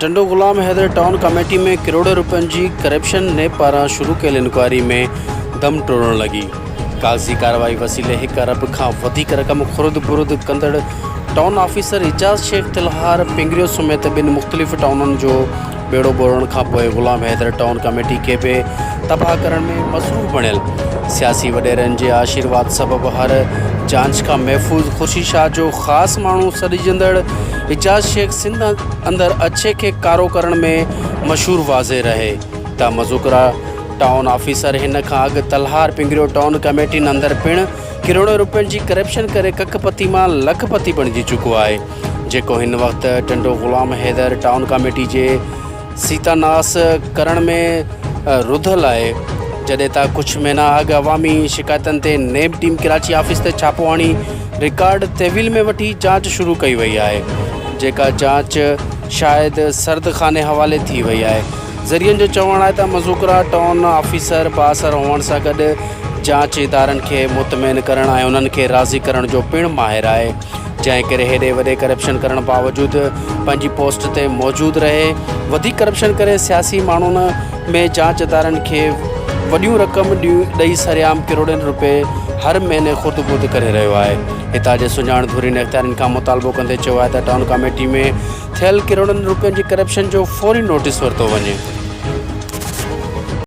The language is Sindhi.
ٽنڊو غلام حيدر ٽائون ڪاميٽي ۾ ڪروڙين روپين جي ڪرپشن، نيب پاران شروع ڪيل انڪوائري ۾ دم ٽوڙڻ لڳي، ڪاغذي ڪارروائي وسيلي هڪ ارب کان وڌيڪ رقم خرد برد ڪندڙ ٽائون آفيسر اعجاز شيخ تلهار پنگريو سميت ٻن مختلف ٽائونن جو ٻيڙو ٻوڙڻ کانپوء غلام حيدر ٽائون ڪاميٽي کي به تباهه ڪرڻ ۾ مصروف بڻيل سياسي وڏيرن جي آشيرواد سبب هر جانچ کان محفوظ خورشيد شاهه جو خاص ماڻهو سڏجندڙ اعجاز شيخ سنڌ اندر اڇي کي ڪارو ڪرڻ ۾ مشهور واضح رهي ته مذڪوره ٽائون آفيسر هن کان اڳ تلهار پنگريو ٽائون ڪميٽين اندر پڻ ڪروڙين رپين جي ڪرپشن ڪري ڪک پتي مان لک پتي بڻجي چڪو آهي جيڪو هن وقت ٽنڊو غلام حيدر ٽائون ڪميٽي جي سيتا ناس ڪرڻ ۾ رڌل آهي جڏهن ته ڪجهه مهينا اڳ عوامي شڪايتن تي نيب ٽيم ڪراچي آفيس تي ڇاپو هڻي رڪارڊ تحويل ۾ وٺي جاچ شروع ڪئي وئي آهي جيڪا جاچ شايد سرد خاني حوالي ٿي وئي آهي ذريعن جو چوڻ آهي ته مذوڪرا ٽائون آفيسر بااثر هئڻ سان گڏ جاچ ادارن کي مطمئن ڪرڻ ۽ انهن کي راضي ڪرڻ جو پڻ ماهر آهي جنهن ڪري هيڏي وڏي ڪرپشن ڪرڻ باوجود پنهنجي پوسٽ تي موجود رهي وڌيڪ ڪرپشن ڪري سياسي ماڻهن ۾ جاچ ادارن کي وڏيون رقم ڏئي سرعام ڪروڙين رپئي هر مهيني خورد برد ڪري رهيو آهي هتان جي سڃاڻ ڌرين اختيارين کان مطالبو ڪندي چيو آهي ته ٽائون ڪاميٽي ۾ ٿيل ڪروڙن رپين جي ڪرپشن جو فوري نوٽيس ورتو وڃي.